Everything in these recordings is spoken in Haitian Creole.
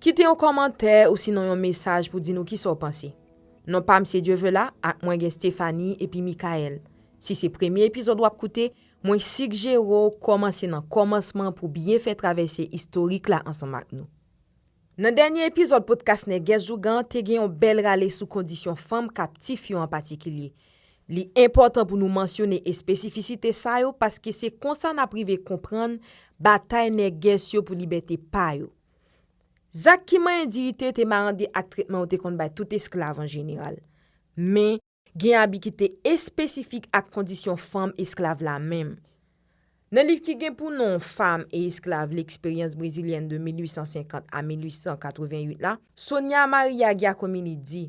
Kite yon kòmantè ousinon yon mesaj pou di nou kisa w panse. Non pa m se Dieuvelah ak mwen gen Stéphanie epi Mickaël. Si se premye epizòd w ap koute, mwen sigjere w kòmanse nan kòmansman pou byen fè travèse istorik la ansanm ak nou. Nan dènye epizòd podkas Nègès Ougan te gen yon bèl rale sou kondisyon fanm kaptif yo an patikilye. Li enpòtan pou nou mansyone espesifisite sa yo paske se konsa n ap rive konprann batay nègès yo pou libète pa yo. Zak ki manyen diyite te marande ak tretman yo te konn bay tout esklav an jeneral. Men, gen abi ki te espesifik ak kondisyon fanm esklav la menm. Nan liv ki gen pou non Femmes et esclaves, l'expérience brésilienne de 1850 à 1888 la, Sonia Maria Giacomini di,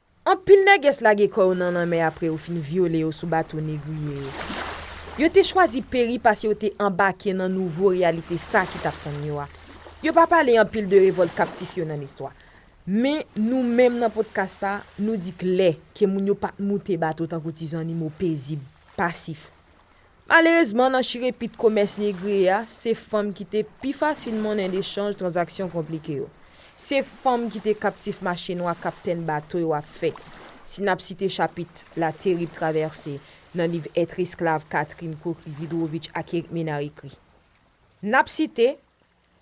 Anpil nègès lage kò yo nan lanmè apre yo fin vyole yo sou bato negriye yo. Yo te chwazi peri pase yo te anbake nan nouvo reyalite sa ki t ap tann yo a. Yo pa pale anpil de revòlt kaptif yo nan listwa. Men, nou menm nan podkas sa, nou di klè ke moun yo pa t moute bato tankou ti zannimo pezib, pasif. Malerezman nan chirepit komès negre a, se fanm ki te pi fasil monnen de chanj tranzaksyon konplike yo. Se fanm ki te kaptif mache nwa kaptenn bato yo ap fè. Si n ap site chapit La terrible traversée nan liv Être esclave Catherine Cochry-Vidrovitch ak Eric Ménard ekri. N ap site.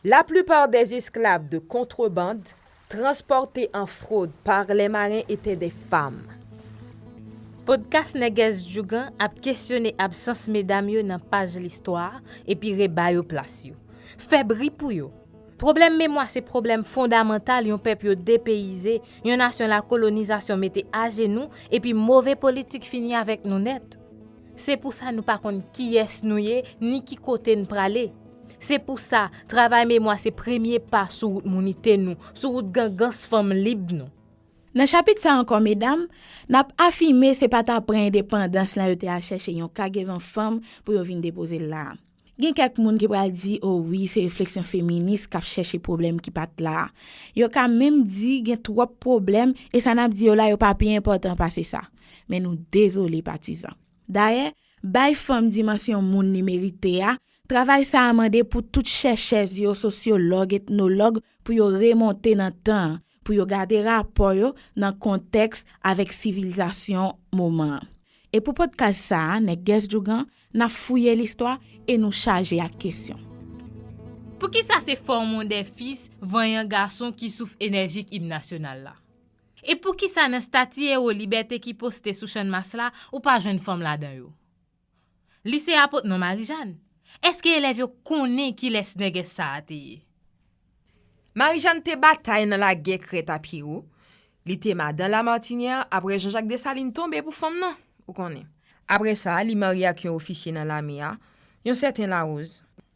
La plupart des esclaves de contrebande transportés en fraude par les marins étaient des femmes. Podcast Nègès Djougan ap kesyone absans medam yo nan paj listwa epi reba yo plas yo. Fè bri pou yo! Pwoblèm memwa se pwoblèm fondamantal yon pèp yo depeyize, yon nasyon lakolonizasyon mete ajenou epi move politik fini avèk nou nèt. Se pou sa nou pa konn kiyès nou ye ni ki kote n prale. Se pou sa, travay memwa se premye pa sou wout mounite nou, sou wout gangans fanm lib nou. Nan chapit sa ankò medam, n ap afime se pa t apre endepandans lan yo te al chèche yon kagezon fanm pou yo vin depoze l la a. Gen kèk moun ki pral di o wi se refleksyon feminis kap chèche pwoblèm ki pat la a. Yo ka menm di gen twòp pwoblèm e sa nap di yo la yo pa pi enpòtan pase sa. Men nou dezole patizan. Dayè, bay fanm dimansyon moun li merite a, travay sa a mande pou tout chèchèz yo, sosyològ, etnològ pou yo remonte nan tan an, pou yo gade rapò yo nan kontèks avèk sivilizasyon moman an. E pou podcast sa a, Nèg Gèss Djougan, n ap fouye listwa e nou chaje ak kesyon. Poukisa se Fòmon dè Fis vanyan gason ki souf enèjik Im Nasyonal la? E poukisa nan stati ewo libète ki poste sou Channmas la, ou pa jwenn fanm ladan yo? Li se apot non Marijàn? Eske elèv yo konnen kilès nègès sa a te ye? Marijàn te batay nan lagè Crête à Pierrot, li te madan Lamartiniè apre Janjak Desalin tonbe pou fanm nan, ou konnen. Apre sa, li marye ak yon ofisye nan lame a, yon sèten Laroze.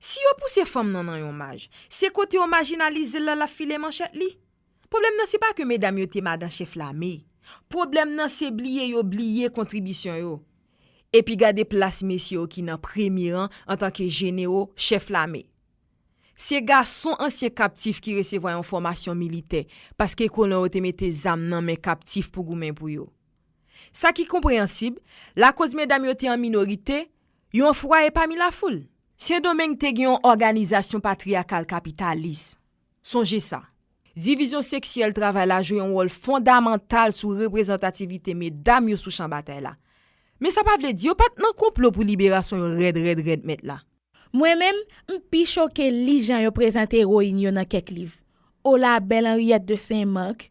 Si yo pouse fanm nan nan yon maj, se kote yo majinalize l la l ap file manchèt li. Pwoblèm nan se pa ke medam yo te madan chèf lame. Pwoblèm nan se bliye yo bliye kontribisyon yo. Epi gade plas mesye yo ki nan premye ran antanke jenero, chèf lame. Se gason ansyen kaptif ki resevwa yon fòmasyon militè paske kolon yo te mete zam nan men kaptif pou goumen pou yo. Sa ki konpreyansib, lakoz medam yo te an minorite, yon fwaye pami lafoul. Sendomeng te gen yon òganizasyon patriyakal kapitalis. Sonje sa. Divizyon seksyèl travay la jwe yon wòl fondamantal sou reprezantativite medam yo sou chan batay la. Men sa pa vle di yo pa t nan konplo pou liberasyon yo rèd rèd rèd mèt la. Mwen menm, m pi choke li jan yo prezante ewoyin yo nan kèk liv. O la bèl Anriyèt de Sen Mak!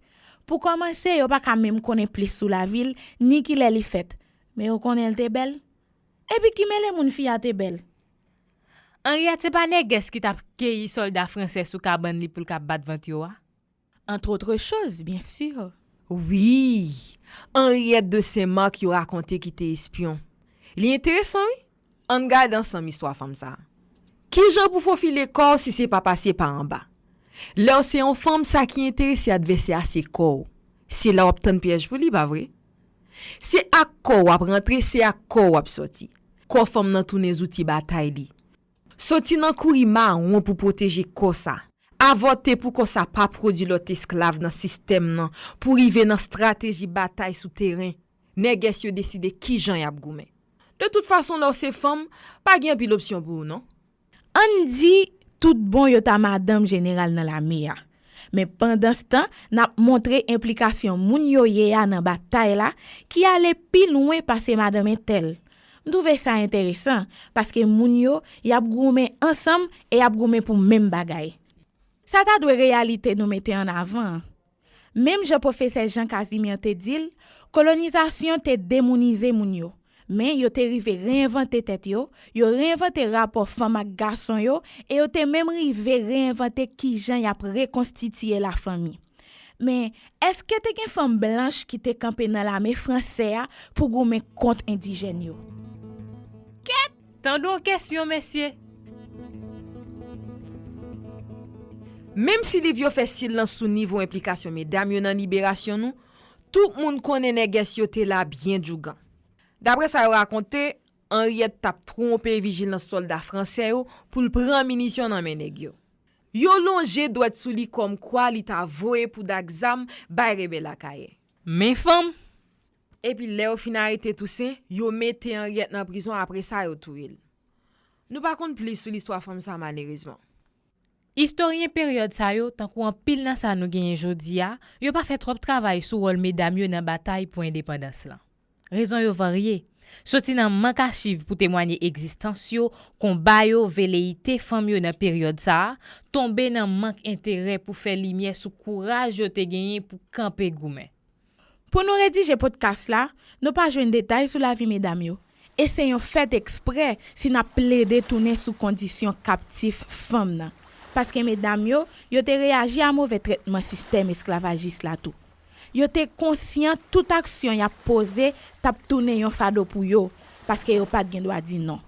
Pou kòmanse, yo pa ka menm konnen plis sou lavi l, ni ki lè li fèt. Men yo konnen l te bèl. Epi ki mele moun fi a te bèl. Henriette se pa nègès ki tap keyi solda fransè sou kabann li poul ka bat vant yo a? Entre autres choses, bien sûr. Wi! Henriette de Saint Marc yo rakonte ki te espyon. Li enteresan wi! Ann gade ansanm istwa fanm sa. Kijan pou fofile kò w si se pa pase pa anba? Lè w se yon fanm sa ki enterese advèsè a se kò w. Se la w ap tann pyèj pou li, pa vre? Se ak kò w ap rantre, se ak kò w ap sòti. Kò fanm nan tounen zouti batay li. Soti nan kouri mawon pou pwoteje kò sa. Avòte pou kò sa pa pwodui lòt esklav nan sistèm nan pou rive nan strateji batay sou teren. Nègès yo deside kijan y ap goumen. De tout fason lè w se fanm, pa gen anpil opsyon pou ou non. Ann di, tout bon yo ta madanm jeneral nan lame a. Men pandanstan, n ap montre enplikasyon moun yo ye a nan batay la, ki ale pi lwen pase madanm entèl. M twouve sa enteresan, paske moun yo, y ap goumen ansanm e y ap goumen pou menm bagay. Sa ta dwe reyalite nou mete ann avan an. Menm jan pwofesè Jean Casimir te di l, kolonizasyon te demounize moun yo. Men yo te rive reyenvante tèt yo, yo reyenvante rapò fanm ak gason yo e yo te menm rive reyenvante ki jan y ap rekonstitiye lafanmi. Men, èske te gen fanm blanch ki te kanpe nan lame fransè a pou goumen kont endijèn yo? Kèt! Tande yon kesyon mesye! Menm si liv yo fè silans sou nivo enplikasyon medam yo nan liberasyon nou, tout moun konnen nègès yo te la byen djougan. Dapre sa yo rakonte, Anriyèt t ap twonpe vijilans sòlda franse yo pou l pran minisyon nan men nèg yo. Yo lonje dwèt sou li kòmkwa li ta voye pouda ak zam bay rebèl Akayè. Men fanm, Epi lè yo fin arete Tousen, yo mete Anriette nan prizon apre sa yo touye l. Nou pa konn plis sou listwa fanm sa malerezman. Istoryen peryòd sa yo, tankou anpil nan sa nou genyen jodi a, yo pa fè twòp travay sou wòl medam yo nan batay pou endepandans lan. Rezon yo varye, soti nan mank achiv pou temwanye egzistans yo, konba yo, veleyite fanm yo nan peryòd sa a, tonbe nan mank enterè pou fè limyè sou kouraj yo te genyen pou kanpe goumen. Pou nou redije podkas la, nou pa jwenn detay sou lavi medam yo, e se yon fèt eksprè si n ap plede tounen sou kondisyon kaptif fanm nan, paske medam yo, yo te reyaji a move trètman sistèm esklavajis la tou. Yo te konsyan tout aksyon y ap poze t ap tounen yon fado pou yo, paske yo pa t gen dwa di non.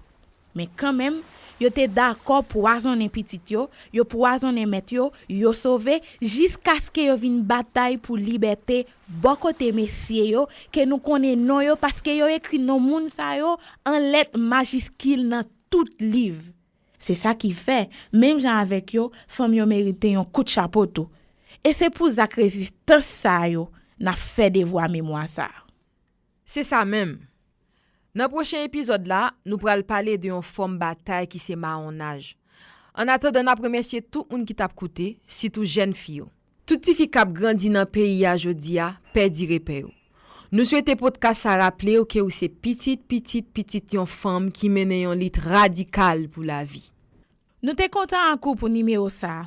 Men kanmenm, yo te dakò pwazonnen pitit yo, yo pwazonnen mèt yo, yo sove, jiskaske yo vin batay pou libète bò kote mesye yo ke nou konnen non yo paske yo ekri non moun sa yo an lèt majiskil nan tout liv. Se sa ki fè, menm jan avèk yo, fanm yo merite yon kout chapo tou. E se pou zak rezistans sa yo n ap fè devwa memwa sa a. Se sa menm! Nan pwochen epizòd la, nou pral pale de yon fòm batay ki se mawonnaj. An atandan nap remèsye tout moun ki tap koute, sitou jèn fi yo. Tout ti fi kap grandi nan peyi a jodi a pèdi repè yo. Nou swete podkas sa raple w ke ou se pitit pitit pitit yon fanm ki mennen yon lit radikal pou lavi. Nou te kontan ak ou pou nimewo sa.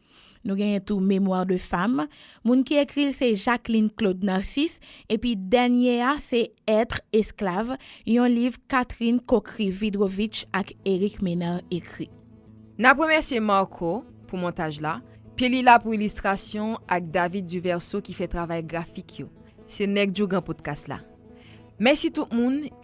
Nou genyen tou Mémoire de femme, moun ki ekri l se Jacqueline Claude Narcisse, epi dènye a se Être, esclave, yon liv Catherine Kokrivydrovitch ak Éric Ménard ekri. N ap remèsye Marco pou montaj la, Pye Lila pou ilistrasyon ak David Duverseau ki fè travay grafik yo. Se Nèg Djougan Podcast la. Mèsi tout moun